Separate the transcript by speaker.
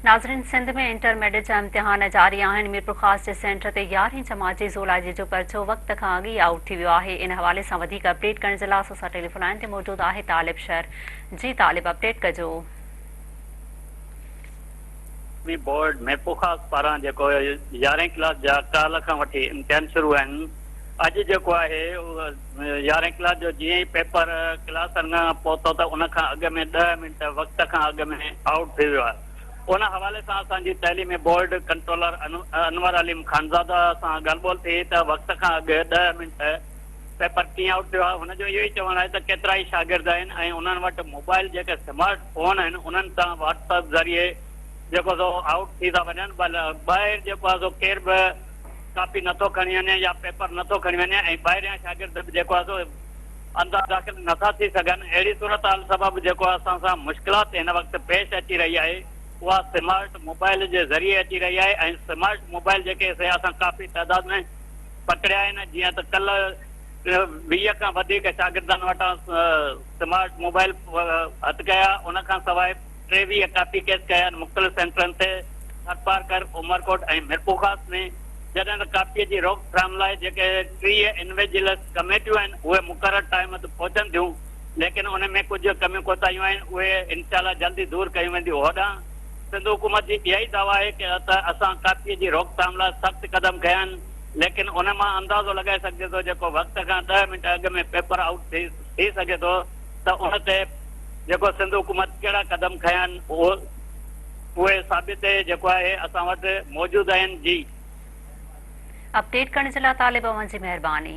Speaker 1: ناظرين Sindh ۾ intermediate جا امتحان جاري آهن ميرپورخاص جي سينٽر تي يارهين جماعت جي زولاجي جو پرچو وقت کان اڳ ئي آئوٽ ٿي ويو آهي ان حوالي سان وڌيڪ اپڊيٽ ڪرڻ جي لاء اسان سان ٽيليفون لائين تي موجود آهي طالب شر جي طالب اپڊيٽ ڪجو قومي
Speaker 2: بورڊ ميرپورخاص پاران جيڪو يارهين ڪلاس جا ڪالهه کان وٺي امتحان شروع آهن اڄ جيڪو آهي يارهين ڪلاس جو جيئن ئي پيپر ڪلاس ۾ پهتو ته ان کان اڳ ۾ ڏهه منٽ وقت کان اڳ ۾ آئوٽ ٿي ويو آهي. ان حوالي سان اسان جي تعليمي بورڊ ڪنٽرولر انور عليم خانزاده سان ڳالهه ٻولهه ٿي ته وقت کان اڳ ڏهه منٽ پيپر ڪيئن آئوٽ ٿيو آهي. هن جو اهو ئي چوڻ آهي ته ڪيترا ئي شاگرد آهن ۽ انهن وٽ موبائل جيڪي سمارٽ فون آهن انهن سان واٽس اپ ذريعي جيڪو سو آئوٽ ٿي ٿا وڃن ٻاهر جيڪو آهي سو ڪير به ڪاپي نه ٿو کڻي وڃي يا پيپر نه ٿو کڻي وڃي ۽ ٻاهريان شاگرد به جيڪو آهي سو اندر داخل نه ٿا ٿي سگهن، اهڙي صورتحال سبب جيڪو اسان سان مشڪلات هن وقت پيش اچي رهي آهي اها سمارٽ موبائيل جي ذريعي اچي رهي آهي ۽ سمارٽ موبائيل جيڪي سي اسان ڪافي تعداد ۾ پڪڙيا آهن جيئن ته ڪلهه ويهه کان وڌيڪ شاگردن وٽان سمارٽ موبائيل هٿ ڪيا ان کان سواء ٽيويهه ڪاپي ڪيس ڪيا آهن مختلف سينٽرن تي ٿرپارڪر، عمرڪوٽ ۽ ميرپورخاص ۾ جڏهن ته ڪاپيء جي روڪ ٿرام لاء جيڪي ٽيهه انويجلس ڪميٽيون آهن اهي مقرر ٽائيم تي پهچن ٿيون ليڪن ان ۾ ڪجهه ڪميون ڪوتاهيون آهن اهي انشاء الله جلد ئي دور ڪيون وينديون هوڏانهن سنڌ حڪومت جي اها ئي دعويٰ آهي ته اسان ڪاپيء جي روڪ ٿام لاء سخت قدم کنيا آهن ليڪن ان مان اندازو لڳائي سگهجي ٿو جيڪو وقت کان ڏهه منٽ اڳ ۾ پيپر آئوٽ ٿي سگهي ٿو. ته ان تي جيڪو سنڌ حڪومت ڪهڙا قدم کنيا آهن اهي ثابت جيڪو آهي اسان وٽ موجود
Speaker 1: آهن
Speaker 2: جي.
Speaker 1: اپڊيٽ ڪرڻ جي لاء
Speaker 2: طالب
Speaker 1: اوهان جي
Speaker 2: مهرباني.